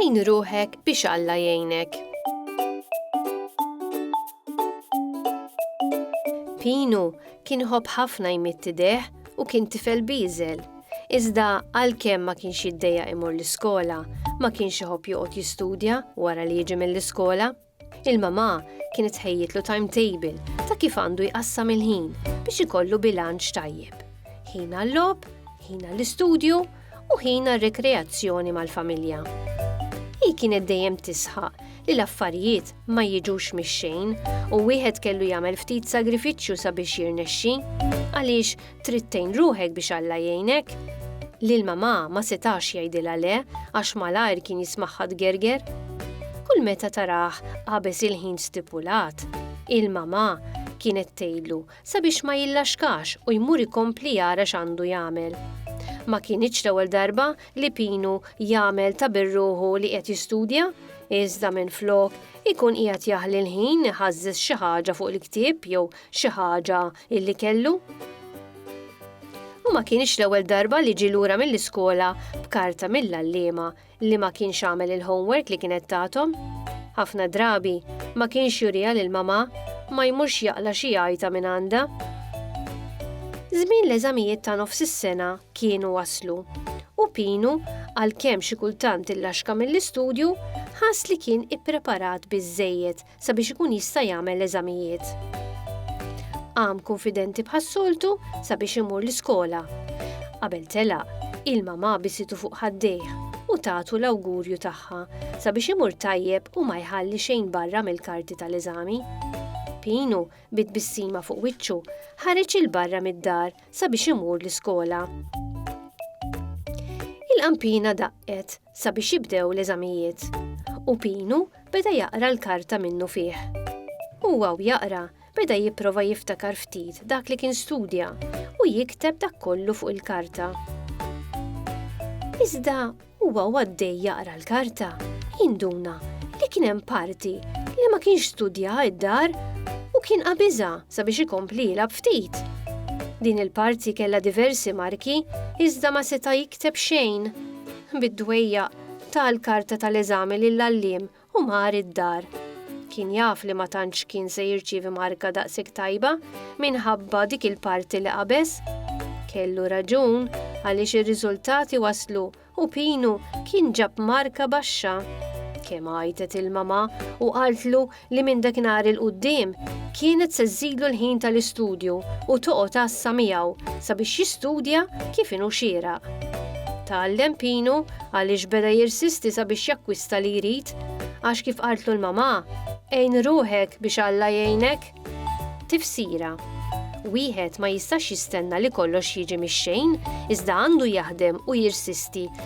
Għin ruħek biex Alla jgħinek. Pinu kien ħobb ħafna jmitti deħ u kien tifel bieżel. Iżda għalkemm ma kienx jiddejjaq imur l-iskola, ma kienx iħobb joqgħod jistudja wara li jiġi mill-iskola. Il-mamà kienet tħejjitlu timetable ta' kif għandu jqassam il-ħin biex ikollu bilanċ tajjeb. Ħin għal-logħob, ħin għall-istudju u ħin għar-rikreazzjoni mal-familja. Hi kienet dejjem tisħaq li l-affarijiet ma jiġux mix-xejn u wieħed kellu jagħmel ftit sagrifiċċju sabiex jirnexxi għaliex trid tgħin ruħek biex Alla jgħinek. Lil mamà ma setax jgħidilha le għax malajr kien jismaħħa tgerger. Kull meta taraħ qabeż il-ħin stipulat, il-mamà kienet tgħidlu sabiex ma jillaxkax u jmur ikompli jara x'għandu jagħmel. Ma kinitx l-ewwel darba li Pinu jagħmel ta' birruħu li qed jistudja, iżda minflok ikun qiegħed jaħli l-ħin iħażżeż xi ħaġa fuq il-ktieb jew xi ħaġa illi kellu. U ma kinitx l-ewwel darba li ġie lura mill-iskola b'karta mill-għalliema Li ma kienx għamel il-homework li kienet tagħthom. Ħafna drabi ma kienx juriha lil mamà, ma jmurx jaqla' xi għajta minn għandha. Żmien l-eżamijiet ta' nofs is-sena kienu waslu u Pinu, għalkemm xi kultant illaxka mill-istudju, ħass li kien ippreparat biżżejjed sabiex ikun jista' jagħmel l-eżamijiet. Għam konfidenti bħas-soltu sabiex imur l-iskola. Qabel tela, il-mama bisitu fuq ħaddejh u tagħtu l-awgurju tagħha sabiex imur tajjeb u ma jħalli xejn barra mill-karti tal-eżami. Pinu, bit bissima fuq wiċċu, ħareġ il-barra mid-dar sabiex imur l-iskola. Il-qampina daqqet sabiex jibdew l-eżamijiet, u Pinu beda jaqra l-karta minnufih. Huwa u jaqra, beda jipprova jiftakar ftit dak li kien studja u jikteb dak kollu fuq il-karta. Iżda huwa u għaddej jaqra l-karta, jinduna li kien hemm parti li ma kienx studjaha id-dar u kien qabiżha sabiex ikompli jilgħab ftit. Din il-parti kellha diversi marki iżda ma seta' Kteb xejn, bid-dwejjaq, ta l-karta ta' l-eżami lill-għalliem u mar id-dar. Kien jaf li ma tantx kien se jirċievi marka daqshekk tajba minħabba dik il-parti li qabeż. Kellu raġun għaliex ir-riżultati waslu u Pinu kien ġab marka baxxa. Kemm għajtet il-mamà u qaltlu li minn dakinhar 'il quddiem kienet se żżidlu l-ħin tal-istudju u toqgħod għassa miegħu sabiex jistudja kif inhu xieraq. Tgħallem Pinu għaliex beda jirsisti sabiex jakkwista li jrid, għax kif qaltlu l-mamà, Għin ruħek biex Alla jgħinek. Tifsira, Wieħed ma jistax jistenna li kollox jiġi mix-xejn, iżda għandu jaħdem u jirsisti